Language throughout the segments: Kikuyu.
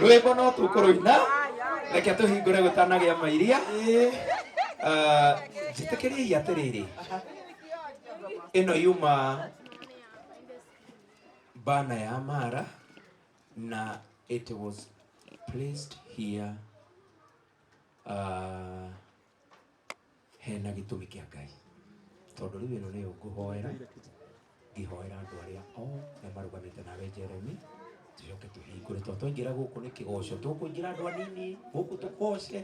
rwĩmbo no tũkũrũina reke tũhingũre gũtanagĩa mairia Ah, njĩtĩkĩriei atĩrĩrĩ ĩno yuma bana ya mara na it was placed here uh, hena gĩtũmi kĩa ngai tondũ rĩu ĩno nĩyo ngũhoera ngĩhoera andũ arĩa othe marũgamĩte nawe jeremi tũcoke tũhingũre tondũ twaingĩra gũkũ nĩ kĩgoco tũkũingĩra andũ anini gũkũ tũgoce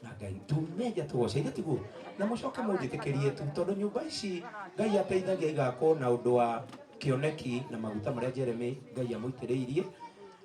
na ngai tumenja tũgoce ithe tiguo na mũcoke mũnjĩtĩkĩrie tu tondũ nyũmba ici ngai ateithagia igakwo na ũndũ wa kĩoneki na maguta marĩa jeremi ngai amũitĩrĩirie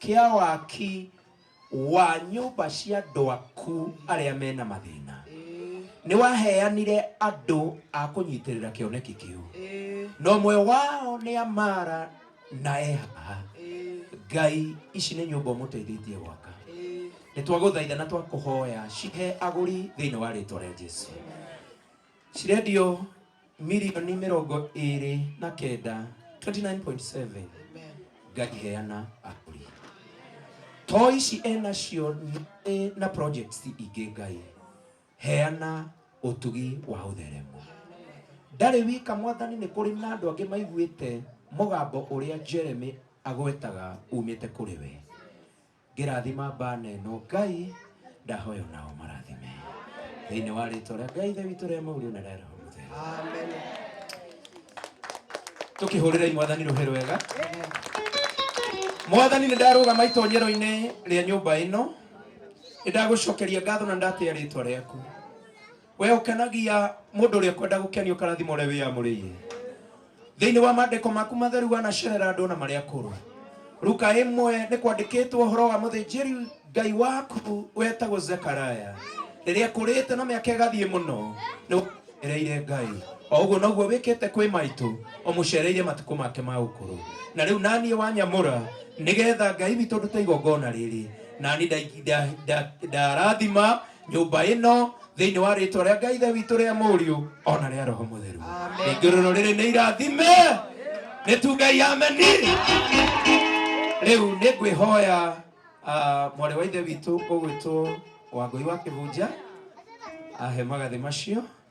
Kĩa waki wa nyũmba cia andũ aku arĩa me na mathĩna. Nĩ waheanire andũ a kũnyitĩrĩra kĩoneki kĩu. Na ũmwe wao nĩ Amara na Eha. Ngai, ici nĩ nyũmba ũmũteithĩtie gwaka. Nĩ twagũthaitha na twakũhoya cihe agũri thĩinĩ wa rĩtwa rĩa Jesu. Cirendio mirioni mĩrongo ĩrĩ na kenda 29.7 ngaheana akũri to ici enacio nĩ na projects ingĩ ngai heana ũtugi wa ũtheremu ndarĩ wika mwathani nĩ kũrĩ na andũ angĩ maiguĩte mũgambo ũrĩa jeremy agwetaga umĩte kũrĩ we Ngĩrathima bana ĩno Ngai ndahoya ona o marathime thĩinĩ wa rĩtwa rĩa Ngai Ithe witũ rĩa maũriũ na rĩa Roho Mũtheru. Tũkĩhũrĩrei mwathani rũhĩ rwega. Mwathani nĩ ndarũgama itonyero-inĩ rĩa nyũmba ĩno, nĩ ndagũcokeria ngatho na ndatĩa rĩtwa rĩaku. we ukenagia mundu uria kwenda gukenio karathimo uria wiyamuriire thiini wa mandiko maku matheru wanacerera andu na maria kuru ruka imwe ni kwandikitwo horo wa muthinjiri ngai waku wetagwo zekaraya riria kurite na miaka igathie muno ni ereire ngai o uguo noguo wikite kwi maitu umucereire matuku make ma ukuru na riu nanie wanyamura nigetha ngai witu ndute igongona riri nani ndarathima nyũmba ĩno thĩinĩ wa rĩtwa rĩa ngai ithe witũ rĩa mũriũ ona rĩa roho mũtheru ningĩ rũrũ rĩrĩ nĩ irathime nĩ tu ngai ameni rĩu nĩ ngwĩhoya ah, mwarĩ wa ithe witũ ũgwĩtwo wangũi wa kĩhunja ahe magathĩ macio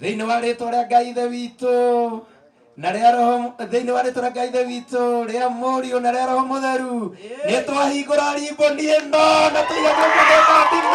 thĩinĩ wa rĩtwa rĩa ngai ithe witũ na rĩa roho thĩinĩ wa rĩtwa rĩa ngai ithe witũ rĩa mũriũ na rĩa roho mũtheru nĩ twahingũra rimboni ĩno na tũiga guoko gwĩka ndingĩ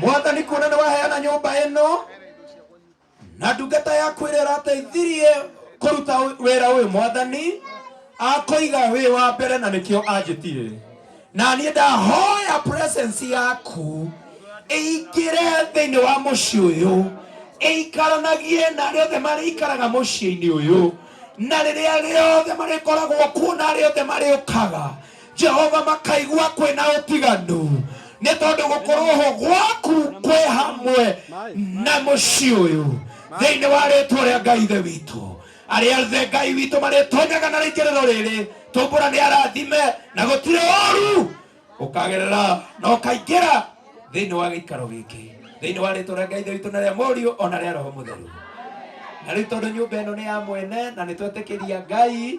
mwathani kuona nĩ waheana nyũmba ĩno na ndungata yaku ĩrĩa ũrateithirie kũruta wĩ- wĩra ũyũ mwathani akũiga wĩ wa mbere na nĩkĩo anjĩtire na niĩ ndahoya presence yaku ĩingĩre thĩinĩ wa mũciĩ ũyũ ĩikaranagie na arĩa othe marĩikaraga mũciĩ-inĩ ũyũ na rĩrĩa rĩothe marĩkoragwo kuo na arĩa othe marĩũkaga Jehova makaigua kwĩ na ũtiganu nĩ tondũ gũkorwo ho gwaku kwĩ hamwe na mũciĩ ũyũ thĩinĩ wa rĩtwa rĩa Ngai Ithe witũ arĩa othe Ngai witũ marĩtonyaga na rĩingĩrĩro rĩrĩ tũmbũra nĩ arathime na gũtirĩ ũru ũkagerera na ũkaingĩra thĩinĩ wa gĩikaro gĩkĩ thĩinĩ wa rĩtwa rĩa Ngai Ithe witũ na rĩa mũriũ ona rĩa roho mũtheru na rĩu tondũ nyũmba ĩno nĩ ya mwene na nĩ twetĩkĩria Ngai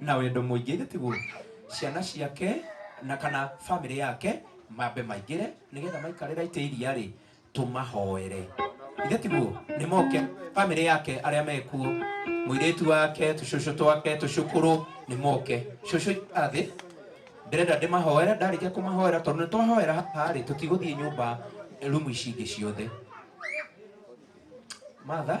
na wendo mũingĩ ithe tiguo ciana ciake na kana bamĩrĩ yake mambe maingĩre nĩgetha maikarĩra itĩ iria rĩ tũmahoere ithe tiguo nĩ moke bamĩrĩ yake arĩa mekuo mũirĩtu wake tũcũcũ twake tũcũkũrũ nĩ moke cũcũ athĩ ndĩrenda ndĩmahoere ndarĩkia kũmahoera tondũ nĩ twahoera haha rĩ tũtigũthiĩ nyũmba rumu ici ingĩ ciothe matha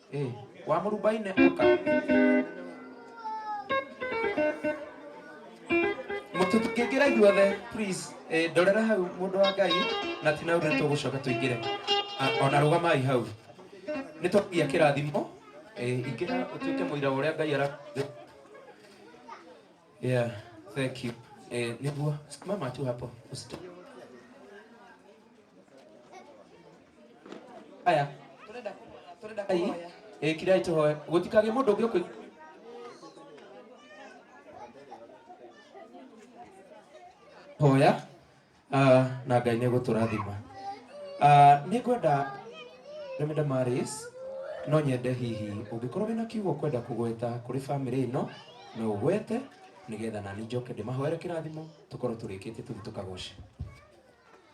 Eh, wa mũrubaine oka mũtũkĩngĩra ithuothe please eh, ndorera hau mũndũ wa ngai na ti naure tũgũcoka tũingĩre Ah, ona rũgamai hau nĩ twagia kĩrathimo eh, ingĩra ũtuĩke mũira wa ũrĩa ngai ara yeah thank you eh, nĩguo mama tu hapo usitoke aya Tũrenda kũhoya, tũrenda Ai, kũhoya. eh, kirai tũhoe gũtikagĩ mũndũ ũngĩ ũkũ hoya ah, na ngai nĩ gũtũrathima Ah, nĩ ngwenda ndemenda maris no nyende hihi ũngĩkorwo wĩna kiugo kwenda kũgweta kũrĩ bamĩrĩ ĩno no ũgwete nĩgetha nani njoke ndĩmahoere kĩrathimo tũkorwo tũrĩkĩtie tũthiĩ tũkagoce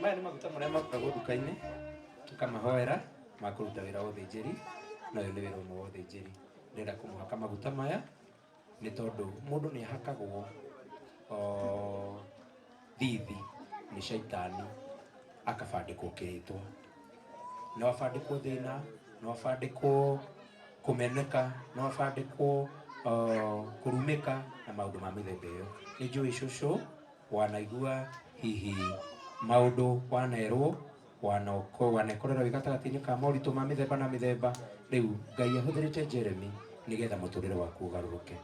maya nĩ maguta marĩa makagwo nduka-inĩ tũkamahoera makũruta wĩra wa ũthĩnjĩri na ũyũ nĩ wĩra ũmwe wa ũthĩnjĩri ndĩrenda kũmũhaka maguta maya nĩ tondũ mũndũ nĩ ahakagwo o, thithi nĩ caitani akabandĩkwo kĩrĩtwa no abandĩkwo thĩna no abandĩkwo kũmeneka no abandĩkwo o, kũrumĩka na maũndũ ma mĩthemba ĩyo nĩ njũĩ cũcũ wanaigua hihi maũndũ wanerwo Wano, kũrũa na ĩkorero ĩ gatagatĩ-inĩ ka moritũ ma mĩthemba na mĩthemba. Rĩu, Ngai ahũthĩrĩte Jeremy nĩ getha mũtũrĩre waku ũgarũrũke.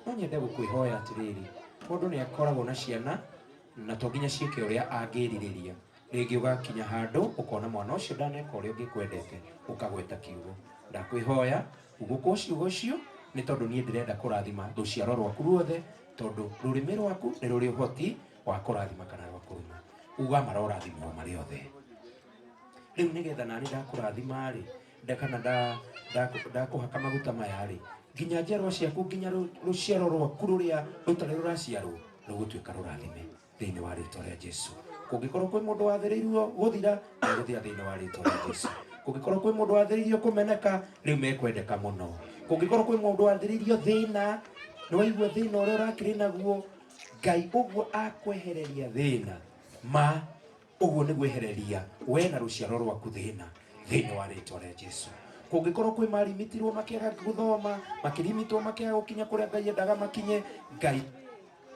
No nyende gũkwĩhoya atĩrĩrĩ, mũndũ nĩ akoragwo na ciana na to nginya ciĩke ũrĩa angĩrirĩria. Rĩngĩ ũgakinya handũ ũkona mwana ũcio ndaneka ũrĩa ũngĩkwendete, ũkagweta kiugo. Ndakwĩhoya hubũkwo ciugo icio nĩ tondũ niĩ ndĩrenda kũrathima rũciaro rwaku ruothe tondũ rũrĩmĩ rwaku nĩ rũrĩ ũhoti wa kurathima kana wa kuruma uga marorathimwo marĩ othe rĩu nĩgetha nani ndakũrathima rĩ ndakana nda- ndaku- ndakũhaka maguta maya rĩ nginya njiarwa ciaku nginya rũ- rũciaro rwaku rũrĩa rũtarĩ rũraciarwo rũgũtuĩka rũrathime thĩinĩ wa rĩtwa rĩa jesu kũngĩkorwo kwĩ mũndũ wathĩrĩirio gũthira agũthira thĩinĩ wa rĩtwa rĩa jesu kũngĩkorwo kwĩ mũndũ wathĩrĩirio kũmeneka rĩu mekwendeka mũno kũngĩkorwo kwĩ mũndũ wathĩrĩirio thĩna nĩwaigua thĩna ũrĩa ũrakĩrĩ naguo Ngai ũguo akwehereria thĩna ma ũguo nĩ gwehereria we na rũciaro rwaku thĩna thĩinĩ wa rĩtwa rĩa Jesu kũngĩkorwo kwĩ marimitirwo makĩaga gũthoma makĩrimitwo makĩaga gũkinya kũrĩa Ngai endaga makinye Ngai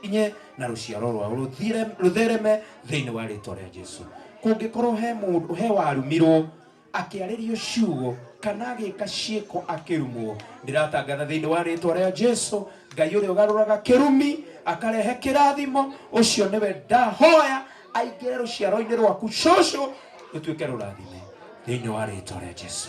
inye na rũciaro rwao rũthire- rũthereme thĩinĩ wa rĩtwa rĩa Jesu kũngĩkorwo he mũndũ he warumirwo akĩarĩrio ciugo kana agĩka ciĩko akĩrumwo ndĩratangatha thĩinĩ wa rĩtwa rĩa jesu ngai ũrĩa ũgarũraga kĩrumi akarehe kĩrathimo ũcio nĩwe ndahoya aingĩre rũciaro-inĩ rwaku cũcũ rũtuĩke rũrathime thĩinĩ wa rĩtwa rĩa jesu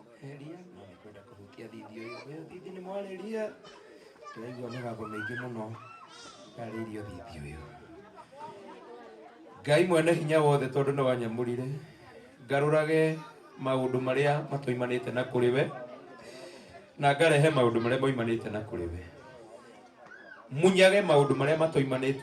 kũhĩria na nĩ kwenda kũhutia thindi ũyũ ũyũ thindi nĩ mwarĩria tũraigua mĩgambo mĩingĩ mũno yarĩirio thindi ũyũ ngai mwene hinya wothe tondũ nĩ wanyamũrire ngarũrage maũndũ marĩa matoimanĩte na kũrĩ we na ngarehe maũndũ marĩa moimanĩte na kũrĩ we munyage maũndũ marĩa matoimanĩte